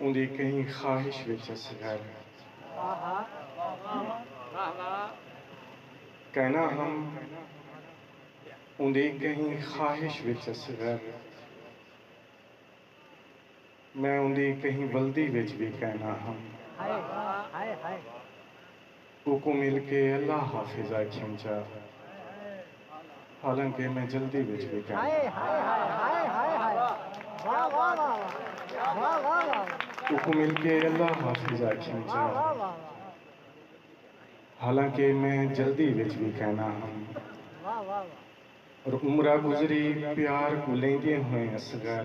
اوندی کہیں خواہش وچ اسی ہر کہنا ہم اوندی کہیں خواہش وچ اسی ہر میں اوندی کہیں ولدی وچ وی کہنا ہم۔ اوکوں مل کے اللہ حافظ آکھیم چا حالانکہ میں جلدی وچ وی کائناں۔ اوکوں مل کے اللہ حافظ آکھیم چا حالانکہ میں جلدی وچ وی کائناں ہم۔ اور عمرہ گزری پیار کوں لیندیں ہوئیں اصغر۔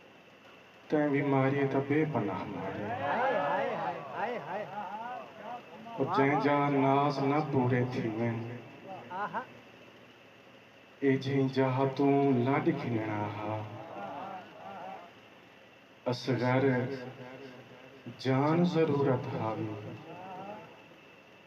تیں وی ماری تاں بے پناہ ماری۔ او جئیں جا ناز نہ پورے تھیون۔ اے جئیں جاہ توں لڈ گھننا ہا۔ اصغر جان ضرورت ہاوی۔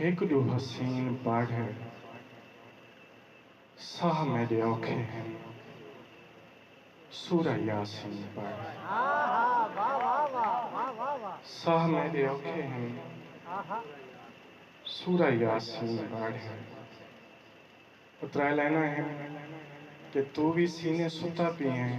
ہک ݙو حسین پاڑھے ساہ میݙے اوکھے ہن سورہ یاسین پاڑھے ساہ میݙے اوکھے ہن سورہ یاسین پاڑھے او ترے لائناں ہن کہ توں وی سینے ستا پی ہیں۔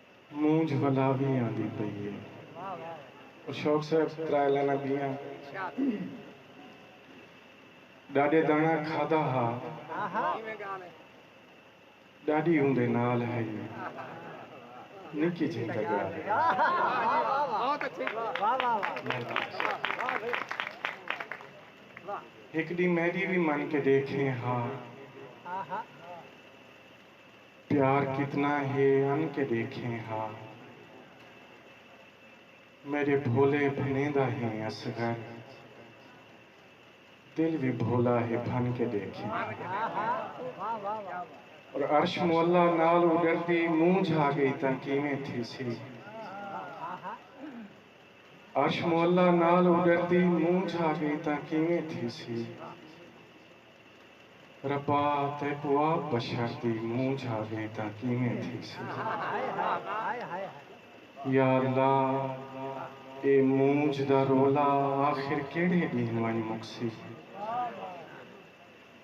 مونجھ ولا وی آندی پئی اے۔ پر شوق صاحب ترائے لائناں ٻیاں ݙاݙے داݨا کھادا ہا ݙاݙی اوندے نال ہئی نکی جھیں تاں ڳالھ اے۔ ہک ݙینہہ میݙی وی من کے ݙیکھیں ہا۔ پیار کتنا ہے ان کے دیکھیں ہا۔ میݙے بھولے بھنیں دا ہیں اصغر۔ دل وی بھولا ہے بھن کے دیکھیں ہا۔ اور عرش معلی نال اݙردی منہ جھا ڳئی تاں کیویں تھیسی۔ عرش معلی نال اݙردی منہ جھا ڳئی تاں کیویں تھیسی۔ ربا تیکوں آپ بشر دی منہ جھا گئیں تاں کیویں تھیسی۔ یا اللہ اے مونجھ دا رولا آخر کیڑھے ڈینہہ ونج مکسی۔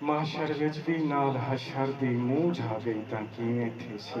محشر وچ وی نال حشر دی منہ جھا گئی تاں کیویں تھیسی۔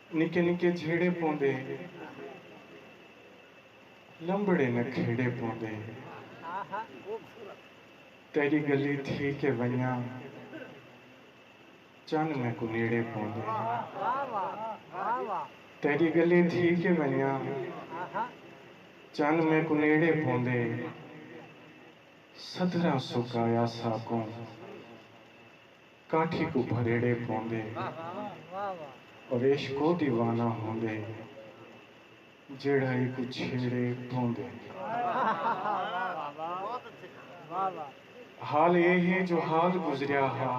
نکے نکے جھیڑے پوندے لمبڑے نہ کھیڑے پوندے تیڈی گلی تھی کے ونجاں چن میکوں نیڑے پوندے تیڈی گلی تھی کے ونجاں چن میکوں نیڑے پوندے سدھراں سکایا ساکوں کاٹھی کوں بھریڑے پوندے اویش کو دیوانہ ہوندے جیڑھا ایکوں چھیڑے پوندے حال اے ہے جو حال گزریا ہا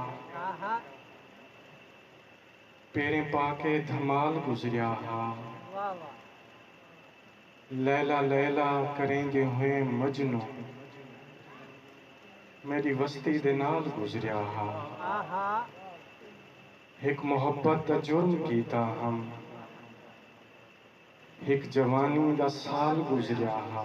پیریں پا کے دھمال گزریا ہا۔ لیلا لیلا کریندے ہوئے مجنوں میݙی وستی دے نال گزریا ہا ہک محبت دا جرم کیتا ہم ہک جوانی دا سال گزریا ہا۔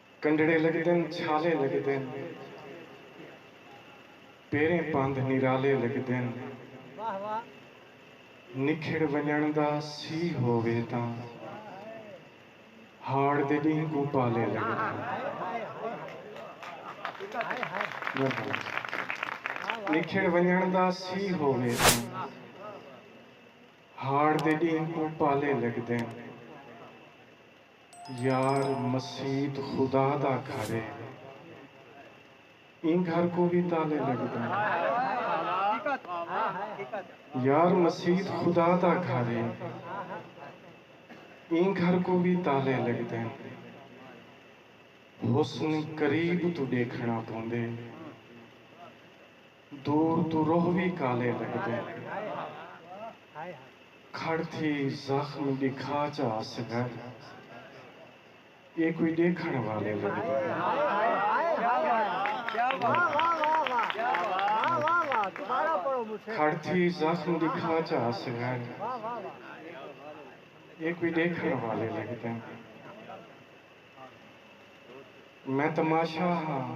کنڈڑے لگدن چھالے لگدن پیریں پندھ نرالے لگدن نکھڑ ونجنڑ دا سی ہووے تاں ہاڑ دے ڈینہہ کوں پالے لگدن نکھڑ ونجنڑ دا سی ہووے تاں ہاڑ دے ڈینہہ کوں پالے لگدن۔ یار مسیت خدا دا گھر اے ایں گھر کوں وی تالے لگدن یار مسیت خدا دا گھر اے ایں گھر کوں وی تالے لگدن حسن قریب توں ڈیکھنڑاں پوندے۔ دور توں روہ وی کالے لگدے۔ کھڑ تھی زخم ڈکھا چا اصغر اے کوئی ڈیکھن والے لگدے۔ میں تماشا ہاں۔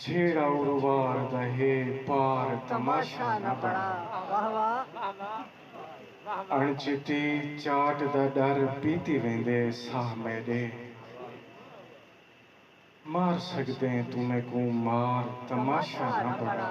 جھیڑا اروار دا ہے پار تماشا نہ بݨا۔ اݨچتی چاٹ دا ݙر پیتی ویندے ساہ میݙے۔ مار سڳدیں توں میکوں مار تماشا نہ بݨا۔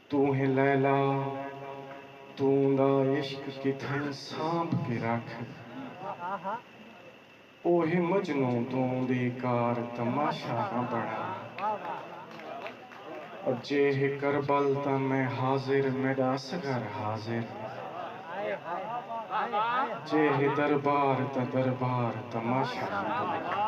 توں ہیں لیلا توں دا عشق کتھائیں سانبھ کے رکھ او ہیں مجنوں توں بے کار تماشہ نہ بنڑا او جے ہے کربل تاں میں حاضر میڈا اصغر حاضر جے ہے دربار تاں دربار تماشہ نہ بنڑا۔